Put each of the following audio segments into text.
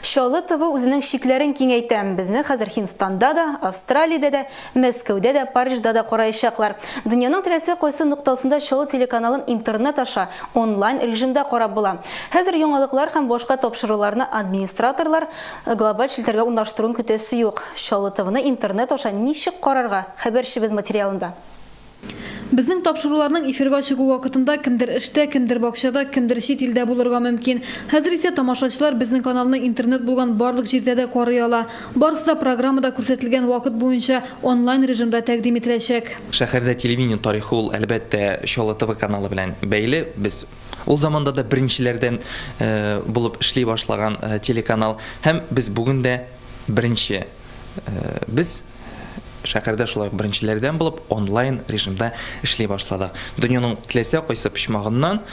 Чаллы ТВ үзенең чикләрен киңәйтә. Безне хәзер Һиндстанда да, Австралиядә дә, Мәскәүдә дә, Парижда да караячаклар. Дөньяның теләсә кайсы ноктасында Чаллы телеканалын интернет аша, онлайн режимда карап була. Хәзер яңалыклар һәм башка тапшыруларны администраторлар глобаль челтәргә урнаштыруын көтәсе юк. Чаллы ТВны интернет аша ничек карарга, хәбәрчебез материалында. Безнең тапшыруларның эфирга чыгу вакытында кемдер эштә, кемдер бакчада, кемдер чит илдә булырга мөмкин. Хәзер исә тамашачылар безнең каналны интернет булган барлык җирдә дә карый ала. Барысы да программада күрсәтелгән вакыт буенча онлайн режимда тәкъдим ителәчәк. Шәһәрдә телевидение тарихы ул, әлбәттә, Чаллы ТВ каналы белән бәйле. Без ул заманда да беренчеләрдән булып эшли башлаган телеканал һәм без бүген дә беренче. Без. Шәһәрдә шулай ук беренчеләрдән булып онлайн режимда эшли башладык. Дөньяның теләсә кайсы почмагыннан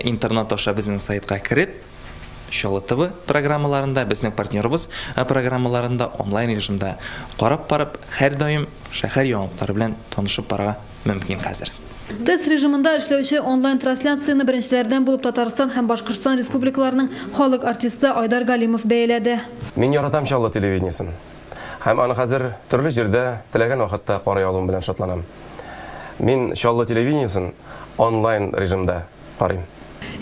интернат аша безнең сайтка кереп, Чаллы ТВ программаларында, безнең партнерыбыз программаларында онлайн режимда карап барып, һәрдаим шәһәр яңалыклары белән танышып барырга мөмкин хәзер. Тест режимында эшләүче онлайн трансляцияне беренчеләрдән булып Татарстан һәм Башкортстан Республикаларының халык артисты Айдар Галимов бәяләде. Мин яратам Чаллы телевидениесен. һәм аны хәзер төрле җирдә теләгән вакытта карый алуым белән шатланам. Мин Чаллы телевидениесен онлайн режимда карыйм.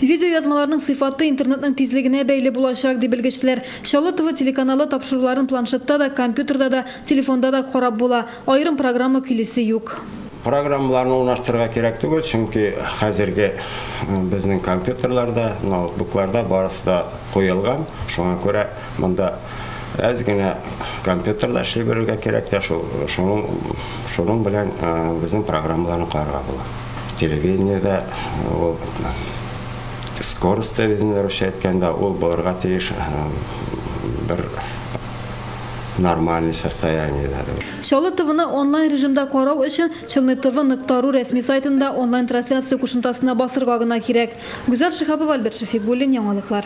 Видеоязмаларның сыйфаты интернетның тизлегенә бәйле булачак, ди белгечләр. Чаллы ТВ телеканалы тапшыруларын планшетта да, компьютерда да, телефонда да карап була. Аерым программа көйлисе юк. Программаларны урнаштырырга кирәк түгел, чөнки хәзерге безнең компьютерларда, ноутбукларда барысы да куелган. Шуңа күрә Монда әз генә компьютерда эшли белергә кирәк тә шул. Шуның, шуның белән э, безнең программаларны карарга була. Телевидениедә э, ул скорость телевидения русча әйткәндә ул булырга тиеш э, бер нормальный состояние надо. Чаллы ТВны онлайн режимда карау өчен Челны ТВ нокта ру рәсми сайтында онлайн трансляция кушымтасына басырга гына кирәк. Гүзәл Шихапова, Альберт Шәфигуллин, яңалыклар.